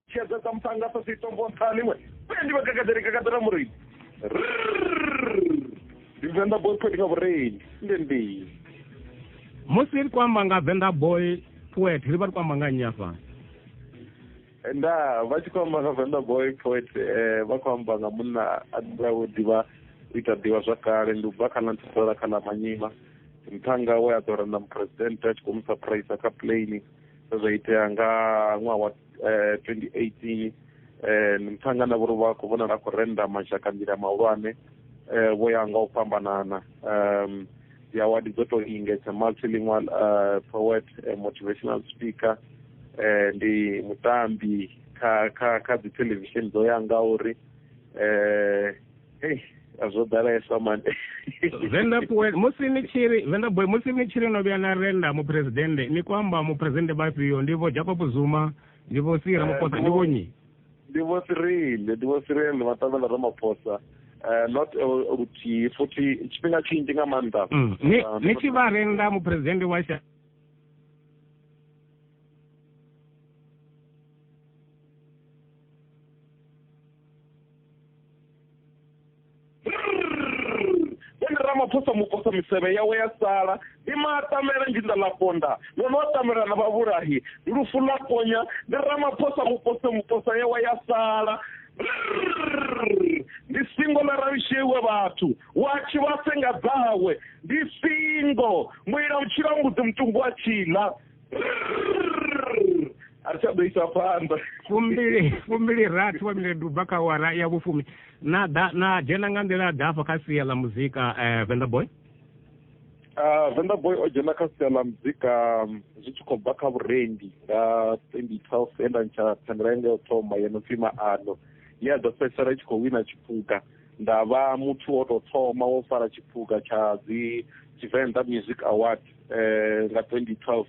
tshedza dza muṱanga sa sitombo nṱhani we uya ndi vhakakadele kakadela mureini ndi venḓa boy poet nga vhureini nde ndi musi ri kwamba nga venḓa boy poet ri vha ri kwamba nga nnyi afha nda vha tshi kwamba nga venḓa boy poet eh, vha khou amba nga munna a ḓiawo ḓivha u ita ḓivha zwa kale ndi ubva kha ḽa nthusela kha ḽa manyima nṱhanga we a ḓora na muphuresidente a tshi khou mu surprise kha plane zwo itea nga ṅwaha wa eh, 2018 eh, mthanga na vhori vha khou vhonala a khou renda mashaka nḓila mahulwane eh, vho ya nga u fhambanana um dzi award dzo tou ingedza multilingual uh, poet eh, motivational speaker eh, ndi mutambi kha kha kha dzi television dzo ya nga uri eh Hey, zwo ḓalesa man venda boy musi ni tshiri venda boy musi ni tshiri no vhuya na renda muphuresidennde ni khou amba muphuresidennde vhafhio ndi vho jacob zuma ndi vho sira eh, ramaphosa ndi vho nyi ndi vho sirile ndi vho sirile ndi maṱavhela ramaphosa eh, not eh, luthihi futhi tshifhinga tshinzhi nga maanḓa mm, ni tshi vha renda muphuresidennde wa sha ene ramaphosa muposa misevhe yawe ya sala ndi maatamela njinda ḽa ponda ḽo no atamela na vhavhulahi lufu ḽa ponya ndi ramaphosa mupose muposa yawe ya sala ndi singo ḽa ralushewe vhathu wa tshi vha senga dzawe ndi singo muila u tshila mbudzi mutumbu wa tshila a tsha ḓo isa phanḓa fumbili fumbili rathi wa miledu bva kha wara ya vhufumi na da na dzhena nga nḓila ḓa afha kha sia ḽa muzika um eh, venda boy ah, venda boy o dzhena kha sia ḽa muzika mm, zwi tshi khou bva kha vhurendi nga twenty twelve enda ntsha thandela yanga yo thoma yeno pfi maano ye a ḓo fhedzisela i tshi khou wina tshiphuga nda vha muthu wo tou thoma wo fara tshiphuga tsha dzi tshivenḓa music award eh nga 2012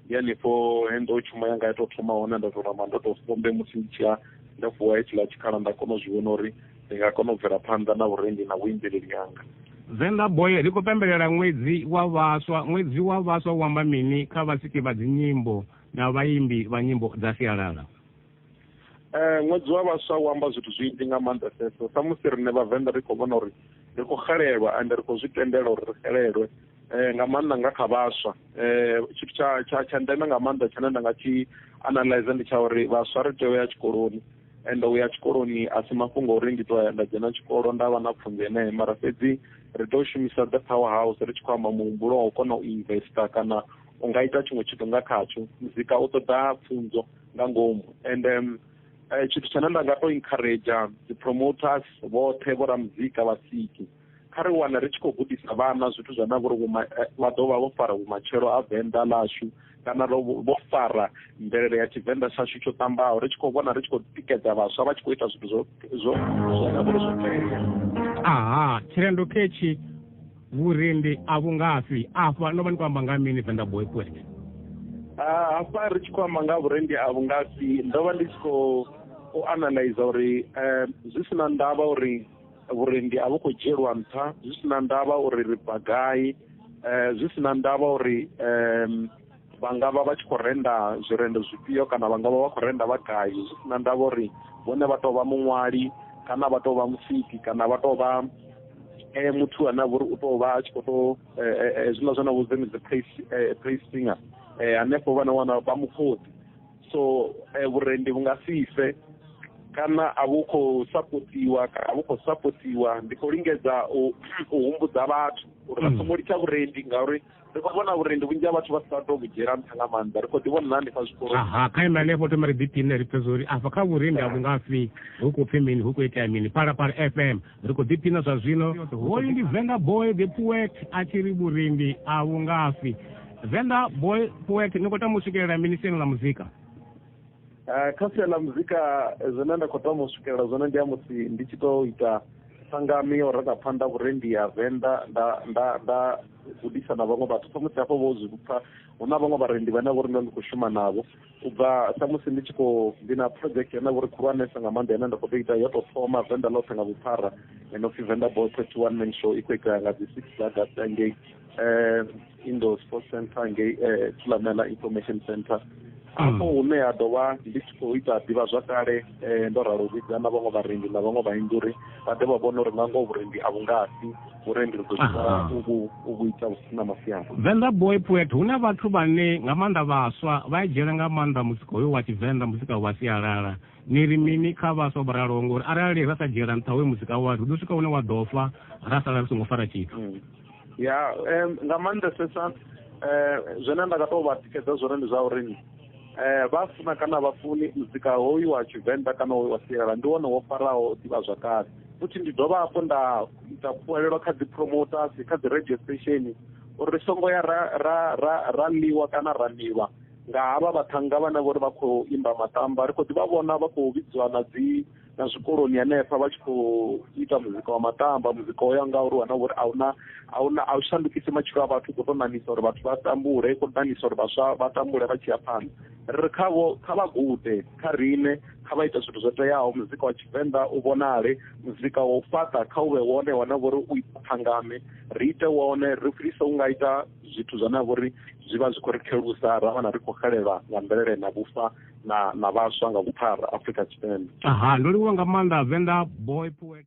ndi hanefho he ndo tshuma yanga ya tou thoma hone nda tou namba ndo tou sombe musi ndi tshiya nda vuwa hetshiḽa tshikhala nda kona u zwi vhona uri ndi nga kona u bvela phanḓa na vhurendi na vhuimbeleli hanga Zenda Boy ri khou pembelela ṅwedzi wa vhaswa ṅwedzi wa vhaswa u amba mini kha vhasiki vha dzinyimbo na vhaimbi vha nyimbo dza sialala Eh, ṅwedzi wa vhaswa u amba zwithu zwinzhi nga maanḓeseso samusi rine vhavenḓa ri khou vhona uri ri khou xelelwa ende ri khou zwi tendela uri ri xelelwe eh, nga maanḓa nga kha vhaswa eh, tshithu tsha tsha tsha ndeme nga maanḓa tshine nda nga tshi analyze ndi tsha uri vhaswa ri tea u ya tshikoloni ende u ya tshikoloni a si mafhungo uri ndi tou ya nda dzhena tshikolo nda vha na pfunzo yeneyo mara fhedzi ri tea u shumisa the power house ri tshi khou amba muhumbulo wa u kona u investa kana u nga ita tshiṅwe tshithu nga khatsho muzika u ṱoḓa pfunzo nga ngomu and um, eh, tshithu tshine nda nga to encourage dzi promoters vhoṱhe vho ra muzika vha siki kha ri wana ri tshi khou gudisa vhana zwithu zwa na vhori eh, vha ḓo vha vho fara vhumatshelo a venḓa ḽashu kana vho fara mvelele ya tshivenḓa tshashu tsho ṱambaho ri tshi khou vhona ri tshi khou tikedza vhaswa vha tshi khou ita zwithu zwo zwo zwo na vhori zwo tea aha tshirendo ketshi vhurindi a vhu ngafhi afha no vha ni khou amba nga mini venda boy poet ah, hafha ri tshi khou amba nga vhurendi a vhu ngafhi ndo vha ndi tshi khou u analyza uri eh, zwi si na ndavha uri vhurendi a vhu khou dzhielwa nṱha zwi si na ndavha uri ri bva gai eh, zwi si na ndavha uri um vha nga vha vha tshi khou renda zwirendo zwifhio kana vha nga vha vha khou renda vha gai zwi si na ndavha uri vhone vha tou vha muṅwali kana vha tou vha musiki kana vha tou vha eh muthu ane a vha uri u tou vha a tshi khou tou eh, eh, eh, zwiḽa zwa na vhudze ni dzi praise singer um hanefho vhana wana vha mukhoḓi so vhurendi vhu nga si fe kana a vhu khou sapotiwa kana a vhu khou sapotiwa ndi khou lingedza u humbudza vhathu uri vha mm. songo litsha vhurendi ngauri ri khou vhona uri ndi vhunzhi ha vhathu vha sa to vhudzhiela nṱha nga maanḓa ri khou ḓi vhona hanefha zwikolo aha kha ime hanefho thoma ri ḓipine ri pfesa uri afha kha vhurendi a vhungafhi hu khou pfi mini hu khou itea mini palapala f m ri khou ḓipina zwa zwino hoyu ndi venda boy the poet a tshi ri vhurendi a vhungafhi venda boy poet ni khou tama u swikelela mini siani ḽa muzika eh, kha sia ḽa muzika eh, zwine nda khou tama u swikelela zwone ndi ya musi ndi tshi to ita sangami yo renga phanḓa vhurendi ya venḓa nda nda nda gudisa na vhaṅwe vhathu samusi hafho vho zwi pfa hu na vhaṅwe vharendi vhane vho ri ndo ndi khou shuma navho u bva samusi ndi tshi khou ndi na project yane vho ri khulwanesa nga maanḓa yane nda khou tou ita yo tou thoma venḓa ḽoṱhe nga vhuphara eno pfi venḓa boy thirty one man show i khou itea nga dzi six dza data ngei indoor sports center ngei thulamela information center afho hune ha ḓo vha ndi tshi khou ita ḓivha zwakale um ndo ralo vhidza na vhaṅwe vharendi na vhaṅwe vhainzi uri vha ḓe vha vhone uri nga ngoho vhurendi a vhu ngasi vhurendi ri ḓo ḓivha u vhu ita vhu si na masiandoitwa venḓa boy poet hu na vhathu vhane nga maanḓa vhaswa vha e dzhiela nga maanḓa muzika hoyo wa tshivenḓa muzika wa sialala ni ri mini kha vhaswa vho raloho ngori arali ra sa dzhiela nṱha hoyo muzika wa ri ḓo swika hune wa ḓo fa ra sala ri songo fara tshithu mm. ya um nga maanḓesesa um zwine nda nga tou vha tikedza zwone ndi zwa uri eh vha funa kana vha funi muzika hoyu wa tshivenḓa kana wa sialala ndi wone wo faraho ḓivha zwa kale futhi ndi dovha hafhu nda ita khuwelelo kha dzi promoters kha dzi radio station uri songo ya ra ra ra ra ḽiwa kana ra ḽiwa nga havha vhathannga vhane vhori vha khou imba matamba ri khou ḓi vha vhona vha khou vhidziwa na dzi na zwikoloni hanefha vha tshi khou ita muzika wa matamba muzika o ya nga uri wana uri ahuna ahuna a u shandukisi matshilo a vhathu khou tou ṋamisa uri vhathu vha tambule khou ṋamisa uri vhaswa vha tambule vha tshi ya phanḓa ri ri khavho kha vha gude kha riṋe kha vha ita zwithu zwo teaho muzika wa tshivenḓa u vhonale muzika wa u fhaṱa kha u vhe wone wana vhori u ita thangame ri ite wone ri fhirisa u nga ita zwithu zwane a vhori zwi vha zwi khou ri khelusa ra wana ri khou xelelwa nga mvelele na vhufa na na vhaswa nga vhuphara Afrika Tshipembe. Aha, ndo livhuwa nga maanḓa Venḓa boy poet.